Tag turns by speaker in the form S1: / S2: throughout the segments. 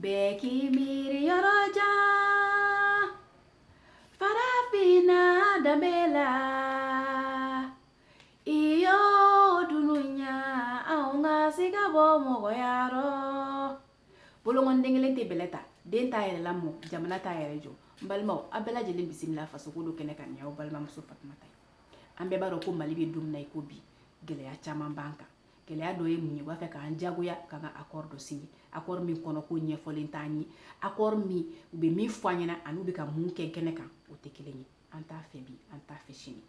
S1: Bɛɛ k'i miiri yɔrɔ jan Farafinna danbe la i yoo dunuya anw ka siga bɔ mɔgɔya rɔ bolonkɔni den kelen tɛ bɛlɛ ta den t'a yɛrɛ lamɔ jamana t'a yɛrɛ jɔ n balimaw a bɛɛ lajɛlen bisimila fasoko do kɛnɛ kan ne y'aw balimamuso fatumata ye an bɛɛ b'a dɔn ko mali bɛ don min na i ko bi gɛlɛya caaman b'an kan gɛlɛya dɔ ye mun ye b'a fɛ k'an jagoya ka ka akɔri dɔ sigi akɔri min kɔnɔko ɲɛfɔlen t'an ye akɔri min u bɛ min fɔ an ɲɛna ani u bɛ ka min kɛ kɛnɛ kan o tɛ kelen ye an t'a fɛ bi an t'a fɛ sini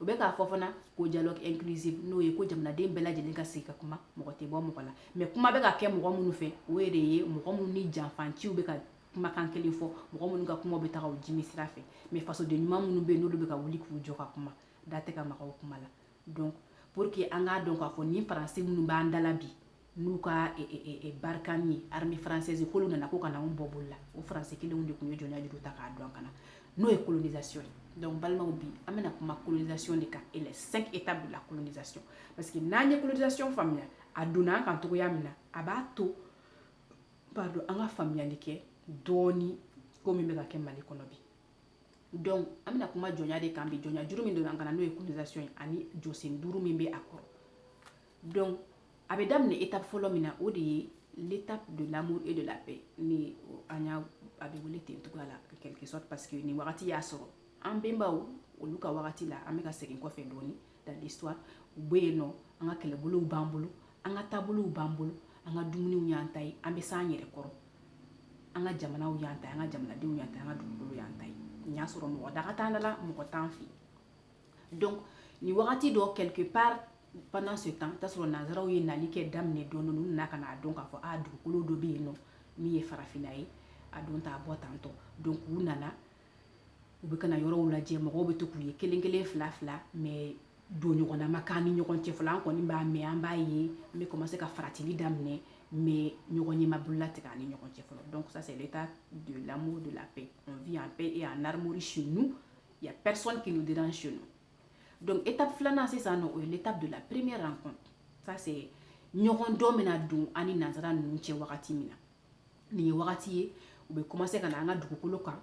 S1: u bɛ k'a fɔ fana ko dialogue inclusive n'o ye ko jamanaden bɛɛ lajɛlen ka sigi ka kuma mɔgɔ tɛ bɔ mɔgɔ la mɛ kuma bɛ ka kɛ mɔgɔ minnu fɛ o de ye mɔgɔ minnu ni janfanciw bɛ ka kumakan kelen fɔ mɔgɔ minnu ka kuma bɛ taga o jimi sira fɛ mɛ fasoden ɲuman minnu bɛ yen n'olu bɛ ka wuli k'u jɔ ka kuma da tɛ ka maga u kuma la donc pour que an k'a dɔn k'a fɔ nin faransi minnu b'an dala bi n'u ka e, e, e, barikani ye armée française k'olu nana ko ka na anw bɔ bolo la o faransi kelenw de tun ye jɔnya juru ta k'a don an kan na n'o ye colonisation ye donc balimaw bi an bɛna kuma colonisation de kan et les cinq étapes de la colonisation parce que n'an ye colonisation faamuya a donna an kan cogoya min na a b'a to pardon an ka faamuyali kɛ dɔɔni ko min bɛ ka kɛ mali kɔnɔ bi dɔnku an bɛna kuma jɔnya de kan bi jɔnya juru min donna an kan na n'o ye colonisation ye ani jɔsen duuru min bɛ a kɔrɔ dɔnku a bɛ daminɛ étape fɔlɔ min na o de ye l'étape de l'amour et de la paix ni an y'a a bɛ wele ten cogoya la ka kɛlɛsɔ paseke ye nin wagati y'a sɔrɔ an bɛnbaw olu ka wagati la an bɛ ka segin kɔfɛ dɔɔnin dans l'histoire u bɛ yen nɔ an ka kɛlɛbolow b'an bolo an ka taabolow b'an bolo an ka dumuniw y'an ta ye an bɛ se an yɛrɛ kɔrɔ an ka jamanaw y'an ta an ka jamanadenw y'an ta an ka dugukolo y'an ta n y'a sɔrɔ mɔgɔ daga t'an dala mɔgɔ t'an fɛ donc nin wagati dɔ quelque part pendant ce temps t'a sɔrɔ nansaraw ye nali kɛ daminɛ dɔɔni n'u nana ka n'a dɔn k'a fɔ a dugukolo dɔ bɛ yen nɔ min ye farafinna ye a don t'a bɔ tantɔ donc u nana u bɛ ka na yɔrɔw lajɛ mɔgɔw bɛ to k'u ye kelen kelen fila fila mɛ dɔnɲɔgɔnna ma k'an ni ɲɔgɔn cɛ fɔlɔ an kɔni b'a mɛ an b'a ye an bɛ kɔmanse ka faratili daminɛ mɛ ɲɔgɔn ɲɛma bolola tigɛ an ni ɲɔgɔn cɛ fɔlɔ donc c'est l'étape de l'amour de la paix vit en paix et en amour chez nous y a personne qui est dedans chez nous dɔnku étape filanan sisan o ye l'étape de la première connaissance ɲɔgɔn dɔn min donna an ni nansara ninnu cɛ wagati min na nin ye wagati ye u bɛ kɔmanse ka na an ka dugukolo kan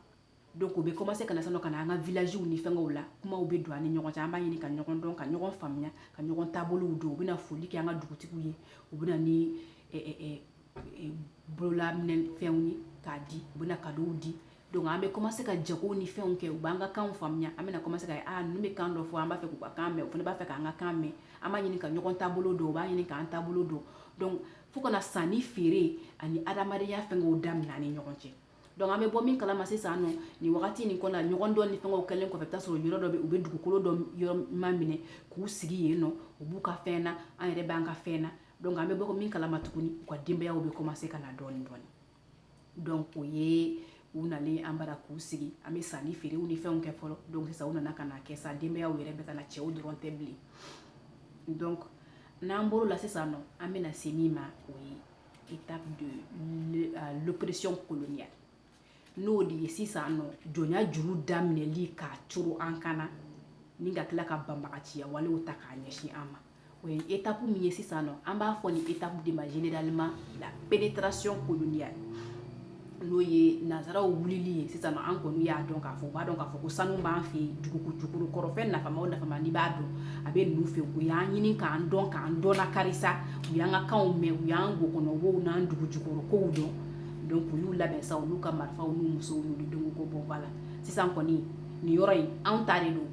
S1: donc u bɛ kɔmanse ka na ka na an ka vilazw ni fɛnw la kumaw bɛ don an ni ɲɔgɔn cɛ an b'a ɲini ka ɲɔgɔn dɔn ka ɲɔgɔn faamuya ka ɲɔgɔn taabolo dɔn u bɛ na foli kɛ an ka dugutigi ye u bɛ ni bololafɛnw ye k'a di u bɛ kado di donc an bɛ kɔmanse ka jago ni fɛnw kɛ u b'an ka kan faamuya an bɛna kɔmanse u bɛ kan dɔ fɔ an b'a fɛ k'u ka kan mɛn u fana b'a fɛ k'an ka kan mɛn an b'a ɲini ka ɲɔgɔn taabolo dɔn u b'a ɲini k'an taabolo dɔn fo ka na sanni feere ani adamadenya fɛnkɛw daminɛ ni ɲɔgɔn cɛ donc an bɛ bɔ min kalama sisan nɔ nin wagati nin kɔnɔ ɲɔgɔn dɔn ni fɛnkɛw kɛlen kɔfɛ taa sɔrɔ yɔrɔ dɔ bɛ u bɛ dugukolo dɔ yɔrɔ maminɛ k'u sigi yen nɔ u b'u ka fɛn na an yɛrɛ b'an ka fɛn na donc an bɛ bɔ min kalama tuguni u ka denbayaw bɛ commencer ka na dɔɔni dɔɔni donc o ye u nalen an bara k'u sigi an bɛ sanni feerew ni fɛnw kɛ fɔlɔ donc sa u nana ka na kɛ sa denbayaw yɛrɛ bɛ ka na cɛw dɔrɔn tɛ bilen donc n'an bɔr'o la sisan nɔ an bɛna se min ma o ye étape de l'oppression coloniale n'o de ye sisan nɔ jɔnya juru daminɛli k'a cɔrɔn an kan na ni ka tila ka banbaganciya walew ta k'a ɲɛsin an ma o ye étape min ye sisan nɔ an b'a fɔ ni étape de ma généralement la pénétration coloniale n'o ye nansaraw wulili ye sisan an kɔni y'a dɔn k'a fɔ b'a dɔn k'a fɔ ko sanu b'an fɛ yen dugujukɔrɔfɛn nafa nafa n' b'a dɔn a bɛ ninnu fɛ u y'an ɲini k'an dɔn k'an dɔn karisa u y'an ka kan mɛn u y'an kɔnɔbaraw n'an dugujukɔrɔ kow dɔn donc olu labɛn sa olu ka marifaw ni muguw donc u bɔla sisan kɔni nin yɔrɔ in anw ta de don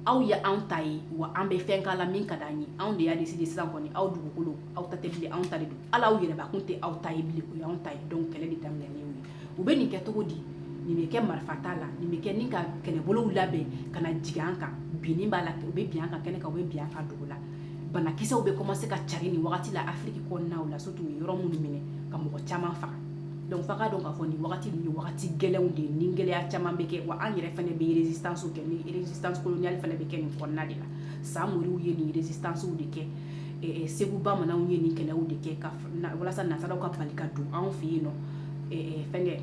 S1: aw ye anw ta ye wa an bɛ fɛn k'a la min ka d'an ye anw de y'a décider sisan kɔni aw dugukolo aw ta tɛ bilen anw ta de don hali aw yɛrɛbakun tɛ aw ta ye bilen o y'anw ta ye donc kɛlɛ de daminɛnen y'o ye u bɛ nin kɛ cogo di nin bɛ kɛ marifata la nin bɛ kɛ ni ka kɛlɛbolow labɛn ka na jigin an kan binni b'a la u bɛ bin an kan kɛnɛ kan u bɛ bin an kan dugu la banakisɛw bɛ commencer ka carin nin wagati la afiriki kɔnɔnaw la surtout u ye yɔrɔ minnu minɛ ka mɔgɔ caman faga donc f'a k'a dɔn k'a fɔ nin wagati nin ye wagati gɛlɛnw de ni gɛlɛya caman bɛ kɛ wa an yɛrɛ fana bɛ résistance kɛ nisanli fana bɛ kɛ nin kɔnɔna de la samori ye ninsiw de kɛ segu bamananw ye nin kɛlɛ de kɛ walasa nansaraw ka bali ka don anw fɛ yen nɔn fɛn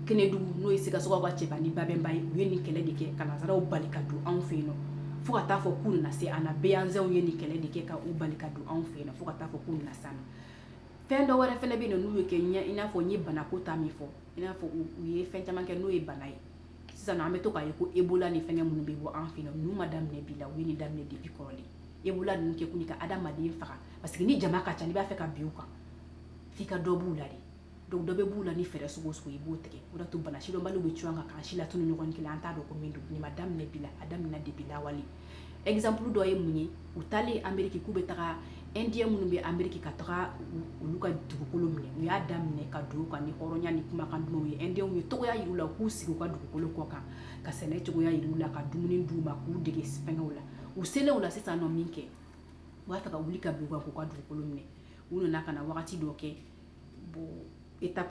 S1: kɛnɛdugu n'o ye sikaso cɛba ni babɛnba ye u ye nin kɛlɛ de kɛ ka nansaraw bali ka don anw fɛ yen fo ka taa fɔ k'u na se an behanzin ye nin kɛlɛ de kɛ k'u bali ka don anw fɛ yen fo ka taa fɔ k'u na fɛn dɔ wɛrɛ fana bɛ yen n'u ye kɛ ɲɛ i n'a fɔ n ye banako ta min fɔ i n'a fɔ u ye fɛn caman kɛ n'o ye bana ye sisan an bɛ to k'a ye ko ebola ni fɛn minnu bɛ bɔ an fɛ ninnu ma daminɛ bi la u ye nin daminɛ depuis kɔrɔlen ebola ninnu kɛ kun ka adamaden faga parce que ni jama ka ca i b'a fɛ ka bin u kan f'i ka dɔ b'u la de donc dɔ bɛ b'u la ni fɛɛrɛ sɔgɔsɔgɔ i b'o tigɛ o to bana sidɔnbali bɛ c kan kan si la tun ni ɲɔgɔn kelen an t'a dɔn ko min don nin ma daminɛ bi la a daminɛ depuis lawale exemple dɔ ye mun ye u taalen ameriki k'u bɛ taga indien minnu bɛ ameriki ka taga olu ka dugukolo minɛ u y'a daminɛ ka don ka ni hɔrɔnya ni kumakan dɔw ye indien ye mɔgɔya yir'u la k'u sigi u ka dugukolo kɔ kan ka sɛnɛ cogoya yir'u la ka dumuni d'u ma k'u dege sɛnɛw la u selen u la sisan nɔ min kɛ u b'a taga wuli ka u ka k'u ka dugukolo minɛ u nana ka na wagati dɔ kɛ bon e ta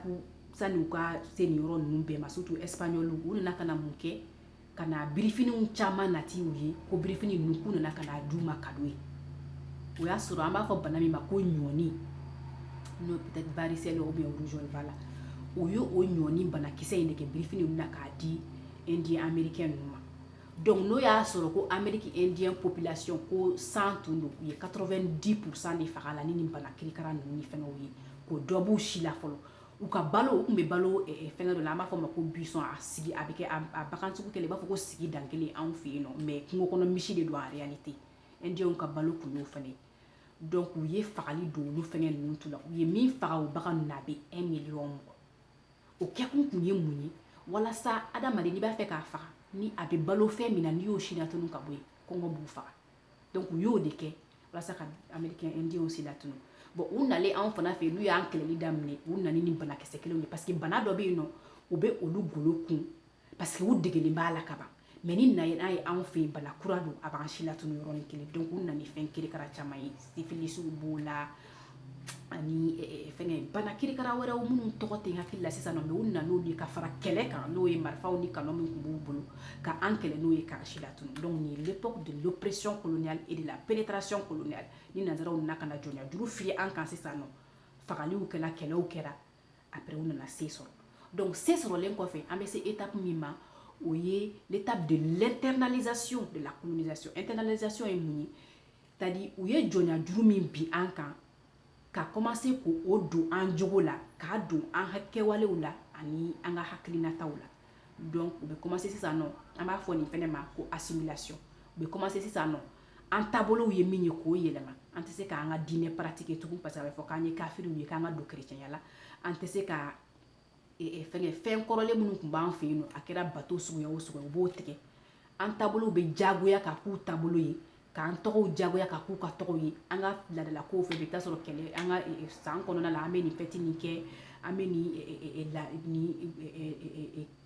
S1: sani u ka se nin yɔrɔ ninnu bɛɛ ma surtout espagnol u nana ka na mun kɛ ka na birifiniw caman nati u ye ko birifini ninnu kun nana ka d'u ma kado ye o y'a sɔrɔ an b'a fɔ bana min ma ko ɲɔni n'o varicelle o bɛ wzfa la u y'o ɲɔni banakisɛ in de kɛ birifini na k'a di indien américain ninnu ma donc n'o y'a sɔrɔ ko amérindien plasi ko san tun don u ye quatre-vingt-dix pour cent de faga la ni ni bana kirikara ninnu fana ye ka dɔ bɔ u si la fɔlɔ u ka balo u tun bɛ balo fɛn dɔ la an b'a fɔ ma ko bison a sigi a bɛ kɛ bagan cogo kelen i b'a fɔ ko sigi dankelen anw fɛ yen nɔ mɛ kungo kɔnɔ misi de don en réalité indienw ka balo tun y'o fana donc u ye fagali don olu fɛn ninnu tu la u ye min faga o bagan na a bɛ e miiri mɔgɔ o kɛkun tun ye mun ye walasa adamaden i b'a fɛ k'a faga ni a bɛ balo fɛn min na n'i y'o silatunu ka bɔ yen kɔngɔ b'u faga dɔnc u y'o de kɛ walasa ka amerikɛn indiw silatunu bon u nalen anw fana fɛ yen n'u y'an kɛlɛli daminɛ u nana ni banakisɛ kelen ye parce que bana dɔ bɛ yen nɔ u bɛ olu golo kun parce que u degelen b'a la ka ban mɛ n'i na n'a ye anw fɛ yen bana kura don a b'an silatunu yɔrɔnin kelen donc u nana ni fɛn kirikara caman ye sifilisiw b'o la ani fɛn bana kirikara wɛrɛ minnu tɔgɔ tɛ n hakili la sisan u na de ka fara kɛlɛ kan n'o ye marifaw ni kanɔn min tun b'u bolo ka an kɛlɛ n'o ye karata la tun dɔnku processus colonial e de la pénétration coloniale ni nansaraw na ka jɔnjuru fili an kan sisan nɔ fagaliw kɛra kɛlɛw kɛra a bɛ u nana sen sɔrɔ dɔnku sen sɔrɔlen kɔfɛ an bɛ se étape min ma o ye l'étape de maintenance de la maintenance ye mun ye t-à-dire u ye jɔnya juru min bin an kan ka komanse k'o don an jogo la k'a don an ka kɛwalew la ani an ka hakilinataw la donc u bɛ komanse sisan nɔ an b'a fɔ nin fana ma ko assimilation u bɛ komanse sisan nɔ an taabolow ye min ye k'o yɛlɛma an tɛ se k'an ka diinɛ paratigi tugun pa a bɛ fɔ k'an ye kafiriw ye k'an ka don kerecɛnya la an tɛ se ka fɛn kɔrɔlen minnu tun b'an fɛ yen a kɛra bato suguya o suguya u b'o tigɛ an taabolow bɛ jagoya ka k'u taabolo ye k'an tɔgɔw jagoya ka k'u ka tɔgɔw ye an ka ladalakow fɛ bɛ taa sɔrɔ kɛlɛ an ka san kɔnɔna la an bɛ nin fɛti nin kɛ an bɛ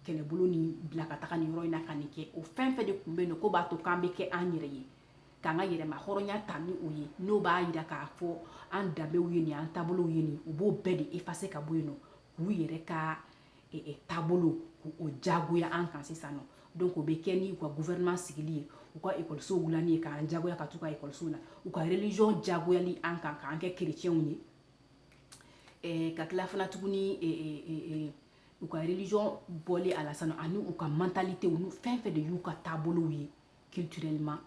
S1: kɛlɛbolo nin bila ka taga ni yɔrɔ in na ka nin kɛ o fɛn fɛn de tun bɛ yen k'o b'a to k'an bɛ kɛ an yɛrɛ ye k'an ka yɛrɛmahɔrɔnya ta ni o ye n'o b'a jira k'a fɔ an danbew ye nin an taabolo ye nin u b'o bɛɛ de effacer ka bɔ yen nɔ k'u yɛrɛ ka e, e, taabolo k'o jagoya an kan sisan nɔ donc o bɛ kɛ ni u ka gouvernement sigili ye u ka ekɔlisow wulili ye k'an jagoya ka t'u ka ekɔlisow la u ka religion jagoyali an kan k'an kɛ kerecɛnw ye eh, ka tila fana tuguni eh, eh, eh, eh, u ka religion bɔli a la sanu ani u ka mentalitew n'u fɛn fɛn de y'u ka taabolow ye culturellement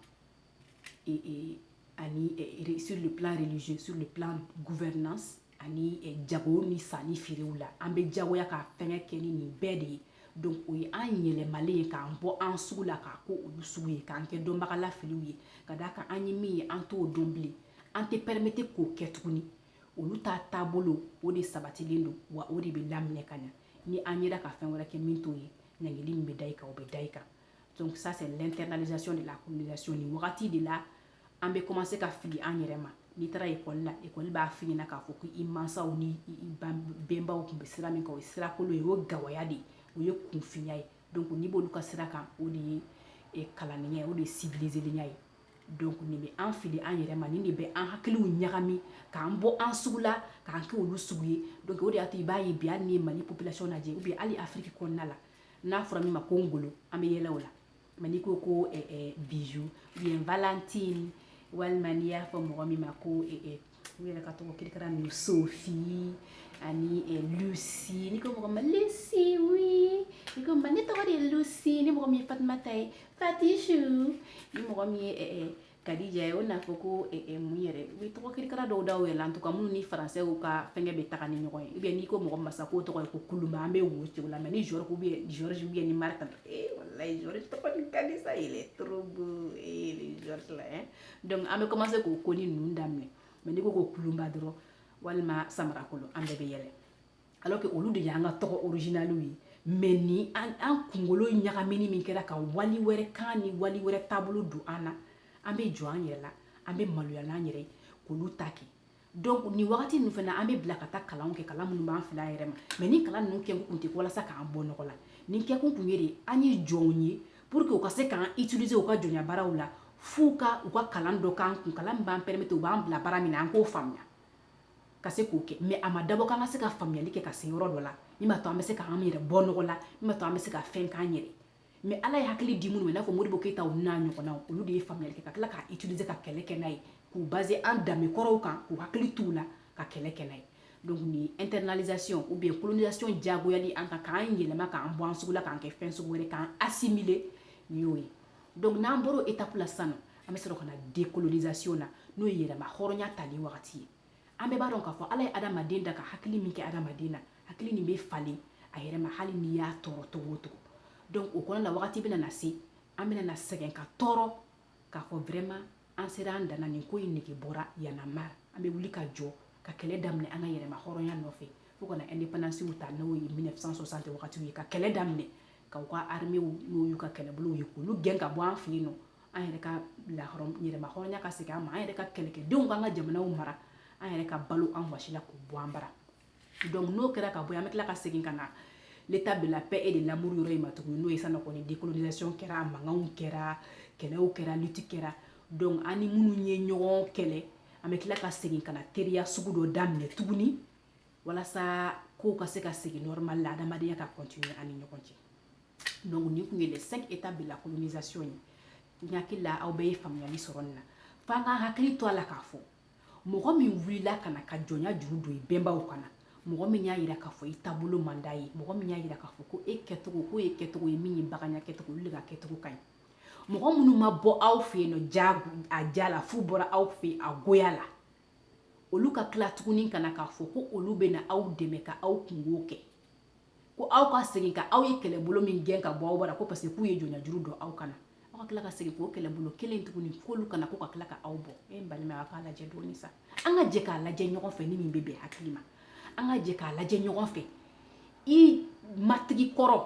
S1: et, et ani eh, sur le plan religieux sur le plan gouvernance ani eh, jago ni sanni feerew la an bɛ jagoya ka fɛngɛ kɛ ni nin bɛɛ de ye donc o ye an yɛlɛmalen ye k'an bɔ an sugu la k'an kɛ olu sugu ye k'an kɛ dɔnbaga lafiliw ye ka d'a kan an ye min ye an t'o dɔn bilen an tɛ pɛrɛmete k'o kɛ tuguni olu ta taabolo o de sabatilen don wa o de bɛ laminɛ ka ɲa ni an yera ka fɛn wɛrɛ kɛ min t'o ye ɲangili min bɛ da i kan o bɛ da i kan donc ça c'est l'internalisation de la colonisation nin wagati de la an bɛ commencer ka fili an yɛrɛ ma n'i taara ekɔli la ekɔli b'a f'i ɲɛna k'a fɔ ko i mansaw ni i bɛnbaw tun bɛ sira min kan o ye sirakolon ye o ye gawaya de ye o ye kunfinya ye donc n'i b'olu ka sira kan o de ye eh, kalannenya ye o de ye sibilizelenya ye donc nin bɛ an fili an yɛrɛ ma nin de bɛ an hakiliw ɲagami k'an bɔ an sugu la k'an kɛ olu sugu ye donc o de y'a to i b'a ye bi hali n'i ye mali population lajɛ ou bien hali afiriki kɔnɔna la n'a fɔra min ma ko ngolo an bɛ yɛlɛ o la mais n'i ko ko eh, eh, bijou ou bien valentine walima n'i y'a fɔ mɔgɔ min ma ko eh, u yɛrɛ ka tɔgɔ kirikara ninnu sofi ani lusi n'i ko mɔgɔ ma lusi wi n'i ko ma ne tɔgɔ de ye lusi ni mɔgɔ min ye fatumata ye fatisu ni mɔgɔ min ye Kadija ye o n'a fɔ ko mun yɛrɛ u bɛ tɔgɔ kirikara dɔw da u yɛrɛ la tɔgɔ minnu ni faransɛ ka fɛn bɛ taga ni ɲɔgɔn ye i bɛ n'i ko mɔgɔ ma sa ko tɔgɔ ye ko kulumba an bɛ wo ci o la mais ni bɛ bɛ ni mari tan sa yɛrɛ donc an bɛ commencer k'o ko ni ninnu daminɛ mais n'i ko ko kulumba dɔrɔn walima samarakolo an bɛɛ bɛ yɛlɛ alors que olu de y'an ka tɔgɔ originalw ye mais ni an kunkolo ɲagamini min kɛra ka wali wɛrɛ kan ni wali wɛrɛ taabolo don an na an bɛ jɔn an yɛrɛ la an bɛ maloya an yɛrɛ k'olu ta kɛ ni wagati ninnu fana an bɛ bila ka taa kalan kɛ kalan minnu b'an fili an yɛrɛ ma mais ni kalan ninnu kɛ kun tɛ walasa k'an bɔ nɔgɔ la nin kɛkun tun ye de an ye jɔnw ye pour que u ka se k'an utiliser u ka jɔnbaaraw la f'u ka u ka kalan dɔ k'an kun kalan b'an pɛrɛmete u b'an bila baara min na an k'o faamuya ka se k'o kɛ mais a ma dabɔ k'an ka se ka faamuyayali kɛ ka se yɔrɔ dɔ la min b'a to an bɛ se k'an yɛrɛ bɔ nɔgɔ la min b'a to an bɛ se ka fɛn k'an yɛrɛ mais ala ye hakili di minnu n'a fɔ modibo keyita ta n'a ɲɔgɔn na olu de ye faamuyayali kɛ ka tila k' itu se ka kɛlɛ kɛ n'a ye k'u ba an danbekɔrɔw kan k'u hakili t'u la ka kɛlɛ kɛ n'a ye donc internalisation de colonisation diyagoyali an kan k'an yɛlɛma k'an bɔ an sugu la k'an kɛ fɛn sugu wɛrɛ k'an assimiler o ye donc n'an bɔra étape la sa an bɛ sɔrɔ ka na décolonisation na n'o ye yɛrɛmahɔrɔnya tali wagati ye an bɛɛ b'a dɔn k'a fɔ ala ye adamaden dan ka hakili min kɛ adamaden na hakili nin bɛ falen a yɛrɛ ma hali n'i y'a tɔɔrɔ cogo o cogo donc o kɔnɔ la wagati bɛna na se an bɛna na sɛgɛn ka tɔɔrɔ k'a fɔ vraiment an sera an dan na nin ko in nege bɔra y en a marre an bɛ wuli ka jɔ ka kɛlɛ daminɛ an ka yɛrɛmahɔrɔnya nɔfɛ fo ka na indépendance ta n'o ye 1960 wagatiw ye ka kɛlɛ daminɛ ka u ka armée w n'o y'u ka kɛlɛbolow ye k'olu gɛn ka bɔ an fɛ yennɔ an yɛrɛ ka lahɔrɔm yɛrɛmahɔrɔnya ka segin an ma an yɛrɛ ka kɛlɛkɛdenw k'an ka jamanaw mara an yɛrɛ ka balo an wasi la k'u bɔ an bara donc n'o kɛra ka bɔ an bɛ tila ka segin ka na l'étape de la paix et de l'amour yɔrɔ in ma tuguni n'o ye sa kɔni décolonisation kɛra mankanw kɛra kɛlɛw kɛra lutte kɛra donc an ni minnu ye ɲɔgɔn kɛlɛ an bɛ tila ka segin ka na teriya sugu dɔ daminɛ tuguni walasa kow ka se ka segin normal la adamadenya ka continuer an ni ɲɔgɔn cɛ donc nin tun ye les cinq étapes de la colonisation ye n hakili la aw bɛɛ ye faamuyali sɔrɔ nin na f'an ka hakili to a la k'a fɔ mɔgɔ min wulila ka na ka jɔnya juru don i bɛnbaw kan na mɔgɔ min y'a yira k'a fɔ i taabolo man d'a ye mɔgɔ min y'a yira k'a fɔ ko e kɛcogo k'o ye kɛcogo ye min ye baganya kɛcogo olu de ka kɛcogo ka ɲi mɔgɔ minnu ma bɔ aw fɛ yen nɔ diya a diya la f'u bɔra aw fɛ yen a goya la olu ka tila tuguni ka na k'a fɔ ko olu bɛ na aw dɛmɛ ka aw kunko kɛ ko aw ka segin ka aw ye kɛlɛbolo min gɛn ka bɔ aw bara ko parce que k'u ye jɔnjuru don aw kan na aw ka tila ka segin k'o kɛlɛbolo kelen tuguni k'olu ka na ko ka tila ka aw bɔ e balima aw k'a lajɛ dɔɔni sa an ka jɛ k'a lajɛ ɲɔgɔn fɛ ni min bɛ bɛn hakili ma an ka jɛ k'a lajɛ ɲɔgɔn fɛ i matigi kɔrɔ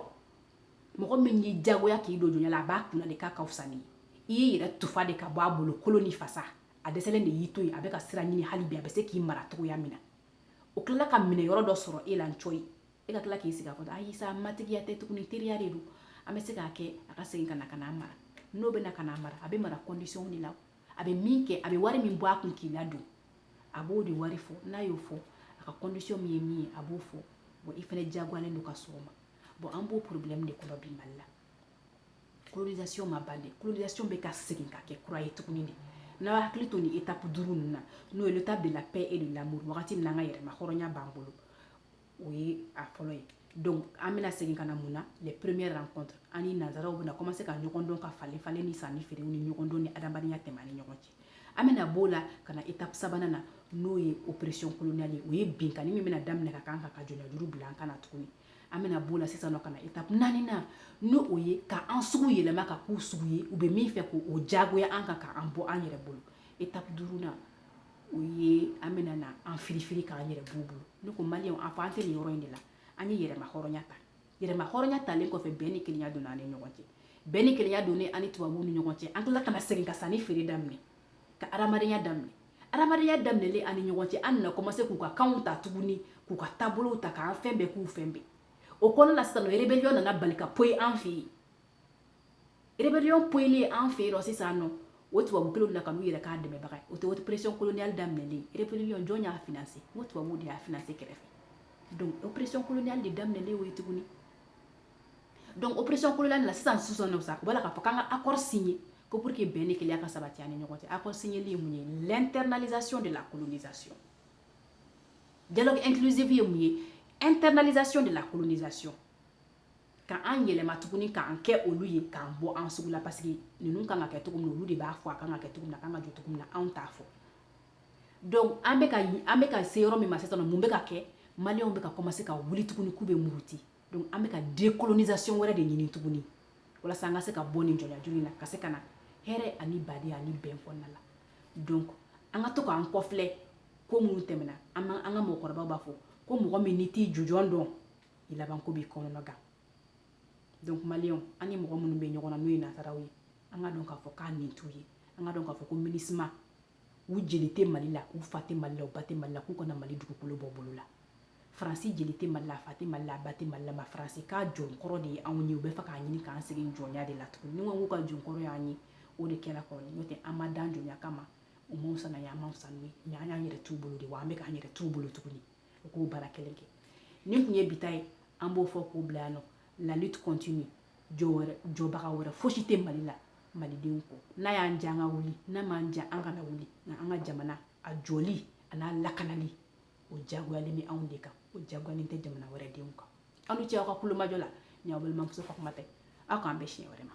S1: mɔgɔ min y'i jagoya k'i don jɔnya la a b'a kun na de k'a ka fisa ni i y'i yɛrɛ tufa de ka bɔ a bolo kolo ni fasa a dɛsɛ de y'i to yen a bɛ ka sira ɲini hali bi a bɛ se k'i mara cogoya min na o tilala ka minɛyɔrɔ dɔ sɔrɔ e la cɔyi e ka tila k'i sigi a kɔnɔ ayi sa matigiya tɛ tuguni teriya de don an bɛ se k'a kɛ a ka segin ka na ka n'a mara n'o bɛ na ka n'a mara a bɛ mara kɔndisɔnw de la a bɛ min kɛ a bɛ wari min bɔ a kun k'i ladon a b'o de wari fɔ n'a y'o fɔ a ka kɔndisɔn min ye min ye a b'o fɔ bɔn i fana diyagoyalen don ka sɔn o ma bɔn an b'o porobilɛmu de kɔnɔ bi mali la colonisation ma ban dɛ colonisation bɛ ka segin ka kɛ kura ye tuguni de n'an hakili to nin étape duuru ninnu na n'o ye l'étape de la paix et de l'amour wagati min na an ka yɛrɛmahɔrɔnya b'an bolo o ye a fɔlɔ ye donc an bɛna segin ka na mun na les premières rencontres an ni nanzaraw bɛna commencer ka ɲɔgɔn dɔn ka falen falen ni sanni feerew ni ɲɔgɔn dɔn ni adamadenya tɛmɛ an ni ɲɔgɔn cɛ an bɛna b'o la ka na étape sabanan na n'o ye oppression coloniale ye o ye binkanni min bɛna daminɛ ka kan ka ka jɔnyajuru bila an kan na tuguni an bɛna b'o la sisan ka na étape naaninan n'o ye ka an sugu yɛlɛma k'a k'u sugu ye u bɛ min fɛ k'o jagoya an kan k'an bɔ an yɛrɛ bolo étape duurunan o ye an bɛna na an filifi k'an yɛrɛ b'u bolo ne ko mali an fɔ an tɛ nin yɔrɔ in de la an ye yɛrɛmahɔrɔnya ta yɛrɛmahɔrɔnya talen kɔfɛ bɛn ni kelenya don an ni ɲɔgɔn cɛ bɛn ni kelenya don an ni tubabu ni ɲɔgɔn cɛ an tila ka segin ka san ni feere daminɛ ka adamadenyaya daminɛ adamadenya daminɛ an ni ɲɔgɔn cɛ an nakɔ ma se k'u ka kanw ta tuguni k'u ka taabolo ta k'an fɛn bɛɛ k'u fɛn bɛɛ o kɔnɔ la sisan rebellion nana bali ka poyi an fɛ yen rebellion poyilen an fɛ yen nɔ sisan nɔ o tubabu kelen na ka n'u yɛrɛ k'an dɛmɛbaga o tɛ wari pression coloniale daminɛlen rebellion jɔn y'a financer n ko tubabuw de y'a financer kɛrɛfɛ donc o pression coloniale de daminɛlen o ye tuguni donc o pression coloniale na sisan sisan nɔ sa u b'a la k'a fɔ k'an ka accord signer Ko pour que bɛn ni kelenya ka sabati an ni ɲɔgɔn cɛ accord signéli ye mun ye l'internalisation de la colonisation dialogue inclusif ye mun ye internalisation de la colonisation ka an yɛlɛma tuguni k'an kɛ olu ye k'an bɔ an sugu la parce que ninnu kan ka kɛ cogo min na olu de b'a fɔ a kan ka kɛ cogo min na a kan ka jɔ cogo min na anw t'a fɔ donc an bɛ ka an bɛ ka se yɔrɔ min ma sisan mun bɛ ka kɛ maliyɛnw bɛ ka commencer ka wuli tuguni k'u bɛ muruti donc an bɛ ka decolonisation wɛrɛ de ɲini tuguni walasa an ka se ka bɔ nin jɔnyajuru in na ka se ka na hɛrɛ ani badenya ani bɛn kɔnɔna la donc an ka to k'an kɔfilɛ ko minnu tɛmɛna an ka mɔgɔkɔrɔbaw b'a fɔ ko mɔgɔ min n'i t'i jujɔn dɔn i labanko b'i kɔnɔnɔ gan donc maliyɛnw an ni mɔgɔ minnu bɛ ɲɔgɔn na n'o ye nansaraw ye an ka dɔn k'a fɔ k'an ɲin t'u ye an ka dɔn k'a fɔ ko minusma u jeli tɛ mali la u fa tɛ mali la u ba tɛ mali la k'u ka na mali dugukolo bɔ bolo la faransi jeli tɛ mali la a fa tɛ mali la a ba tɛ mali la mais faransi ka jɔnkɔrɔ de ye anw ye u b'a fɛ k'a ɲini k'an segin jɔnya de la tuguni ni k'u ka jɔnkɔrɔ y'an ye o de kɛra kɔrɔ n'o tɛ an ma dan jɔnya kama u m'o sana ye an m'o sanu ye mais an y'an yɛrɛ t'u bolo de wa an bɛ k'an yɛrɛ t'u bolo tuguni u k'o baara kelen kɛ nin tun ye bi ta ye an b'o fɔ k'o bila yan nɔ la lutte continue jɔbaga wɛrɛ fosi tɛ mali la malidenw kɔ n'a y'an diya an ka wuli n'a m'an diya an kana wuli nka an ka jamana a jɔli an'a lakanali o jagoyalen bɛ anw de kan o jagoyalen tɛ jamana wɛrɛ denw kan aw ni ce aw ka tulomajɔ la n'aw balimamuso ka kuma tɛ aw k'an bɛn siɲɛ wɛrɛ ma